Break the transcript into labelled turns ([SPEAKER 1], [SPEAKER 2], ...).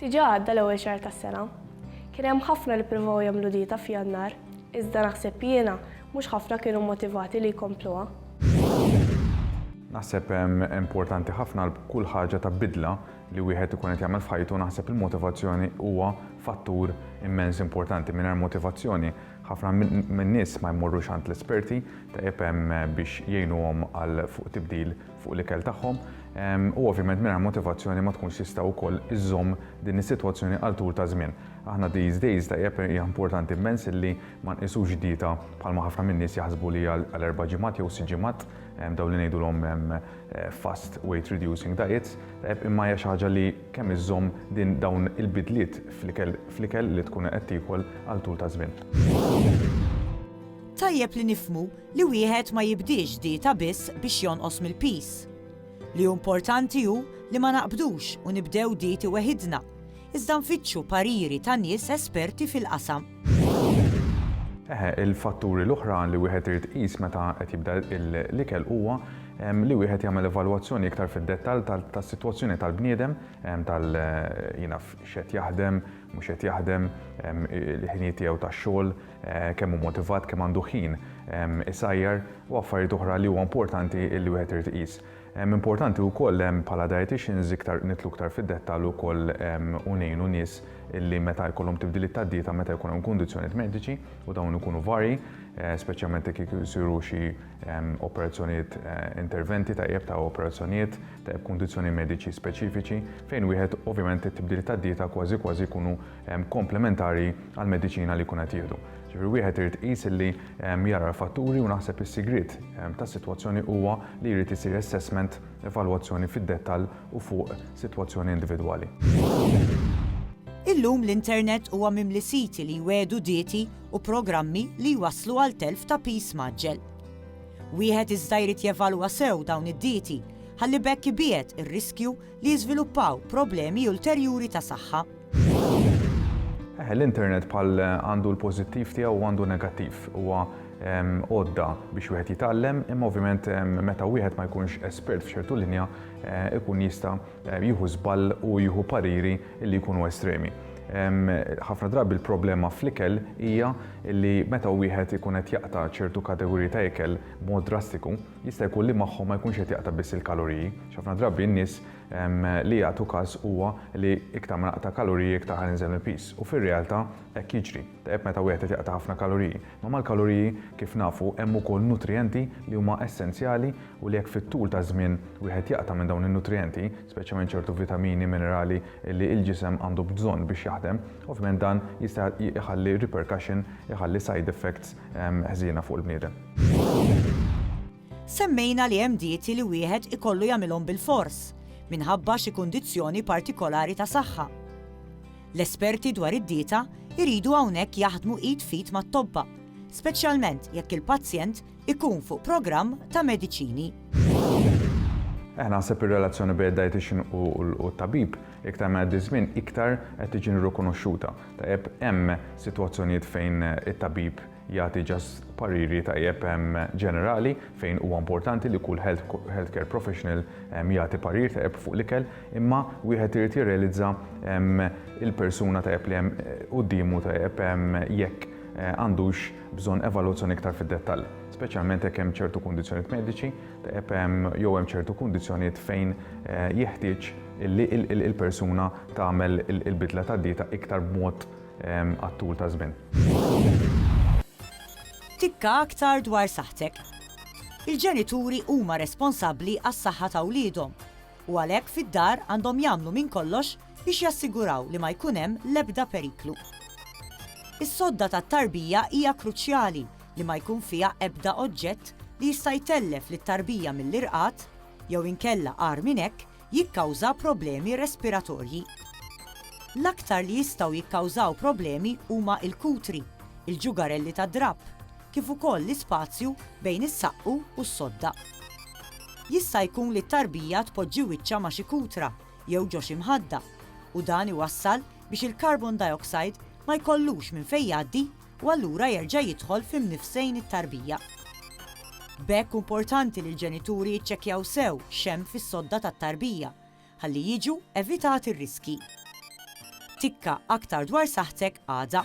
[SPEAKER 1] Diġà għadda l-ewwel xahar tas-sena. Kien hemm ħafna li pprovaw jagħmlu dieta f'Jannar, iżda naħseb jiena mhux ħafna kienu mmotivati li jkompluha.
[SPEAKER 2] Naħseb importanti ħafna għal kull ħaġa ta' bidla li wieħed ikun qed jagħmel f'ħajtu naħseb il-motivazzjoni huwa fattur immens importanti. Mingħajr motivazzjoni ħafna min-nies ma jmorrux għand l-esperti tajjeb biex jgħinuhom għal fuq tibdil fuq l-ikel tagħhom u ovvjament mingħajr motivazzjoni ma tkunx tista' wkoll iżżomm din is-sitwazzjoni għal tul ta' żmien. Aħna these days tajjeb hija importanti immens illi ma nqisux dieta bħalma ħafna min-nies jaħsbu li hija għal erba' ġimgħat jew sitt ġimgħat dawn li ngħidulhom fast weight reducing diets, imma hija xi ħaġa li kemm iżżomm din dawn il-bidliet fl-ikel li tkun qed tiekol għal tul ta' żmien.
[SPEAKER 3] Tajjeb li nifhmu Li wieħed ma jibdiex dieta biss biex jonqos mill-piż. Li hu importanti hu li ma naqbdux u nibdew dieti weħidna, iżda nfittxu pariri ta' nies esperti fil-qasam. Eħe,
[SPEAKER 2] il-fatturi l-oħra li wieħed irid iqis meta qed jibda l-ikel huwa li wieħed jagħmel evalwazzjoni iktar fid-dettall tas-sitwazzjoni tal-bniedem, tal x'qed jaħdem, mhux qed jaħdem, il-ħinijiet tiegħu tax-xogħol, kemm hu motivat, kemm għandu ħin isajjar u affarijiet oħra li huwa importanti li wieħed irid iqis. Importanti wkoll bħala dietitians iktar nitlu iktar fid-dettall ukoll u ngħinu nies li meta jkollhom tibdiliet tad-dieta meta jkun hemm kundizzjonijiet mediċi u dawn ikunu varji, eh, speċjalment jekk isiru xi operazzjonijiet eh, interventi ta' ta' operazzjonijiet ta' kundizzjoni mediċi speċifiċi fejn wieħed ovvjament it-tibdiliet tad-dieta kważi kważi jkunu komplementari għall-mediċina li jkun qed jieħdu. Ġifieri wieħed irid iqis illi jara l-fatturi u naħseb is-sigriet tas-sitwazzjoni huwa li jrid isir assessment, evalwazzjoni fid-dettall u fuq sitwazzjoni individwali.
[SPEAKER 3] Illum l-internet huwa mimli siti li jwiegħdu dieti u programmi li jwasslu għal telf ta' piż mgħaġġel. Wieħed iżda jrid jevalwa sew dawn id-dieti ħalli b'hekk ibiegħed ir-riskju li jiżviluppaw problemi ulterjuri ta' saħħa. Eh,
[SPEAKER 2] l-internet bħal eh, għandu l-pozittiv tiegħu u għandu negattiv. Huwa ehm, għodda biex wieħed jitgħallem, imma ovvjament ehm, meta wieħed ma jkunx espert f'ċertu linja, eh, ikun jista' jieħu żball u jieħu pariri li jkunu estremi. Ehm, ħafna drabi l-problema fl-ikel hija li meta wieħed ikun qed jaqta' ċertu kategoriji ta' ikel mod drastiku, jista' jkun li magħhom ma jkunx qed jaqta' biss il-kaloriji. Ħafna drabi n-nies li jagħtu każ huwa li iktar ma naqta' kaloriji iktar ħa ninżel mill-piż. U fir-realtà hekk jiġri. Tajjeb meta wieħed qed jaqta' ħafna kaloriji. Ma mal-kaloriji, kif nafu, hemm ukoll nutrijenti li huma essenzjali u li jekk fit-tul taż-żmien wieħed jaqta' minn dawn in-nutrijenti, speċjalment ċertu vitamini, minerali li l-ġisem għandu bżonn biex jaħdem, ovvjament dan jista' jħalli repercussion, iħalli side effects ħżiena fuq il-bniedem.
[SPEAKER 3] Semmejna li hemm dieti li wieħed ikollu jagħmilhom bilfors minħabba xi kundizzjoni partikolari ta' saħħa. L-esperti dwar id-dieta jridu hawnhekk jaħdmu id f'id mat-tobba, speċjalment jekk il-pazjent ikun fuq programm ta' mediċini. Eh,
[SPEAKER 2] naħseb ir-relazzjoni bejn id-dietitian u t-tabib iktar ma jgħaddi żmien iktar qed tiġi rikonoxxuta. Tajjeb hemm sitwazzjonijiet fejn it-tabib jagħti just pariri tajjeb ġenerali fejn huwa importanti li kull health, health care professional jagħti parir tajjeb fuq l-ikel, imma wieħed irid jirrealizza il-persuna tajjeb li hemm eh, quddiemu tajjeb jekk eh, għandux bżonn evalwazzjoni iktar fid-dettall. Speċjalment jekk hemm ċertu kundizzjonijiet mediċi, tajjeb jew hemm ċertu kundizzjonijiet fejn eh, jeħtieġ li il-persuna tagħmel il-bidla tad-dieta iktar b'mod għat-tul ta' żmien.
[SPEAKER 3] Tikka aktar dwar saħħtek. Il-ġenituri huma responsabbli għas-saħħa ta' wliedhom u għalhekk fid-dar għandhom jagħmlu minn kollox biex jassiguraw li ma jkun hemm l-ebda periklu. Is-sodda tat-tarbija hija kruċjali li ma jkun fiha ebda oġġett li jista' jtellef lit-tarbija mill-irqad jew inkella agħar minn hekk jikkawża problemi respiratorji. L-aktar li jistgħu jikkawżaw problemi huma l-kutri, il-ġugarelli tad-drapp, kif ukoll l-ispazju bejn is-saqqu u s-sodda. Jista' jkun li t-tarbija tpoġġi wiċċha ma' xi kutra jew ġo xi mħadda u dan iwassal biex il-carbon dioxide ma jkollux minn fejn jgħaddi u allura jerġa' jidħol fi mnifsejn it-tarbija. B'hekk hu mportanti li l-ġenituri jiċċekkjaw sew x'hemm fis-sodda tat-tarbija ħalli jiġu evitati r-riskji. Tikka aktar dwar saħħtek għada.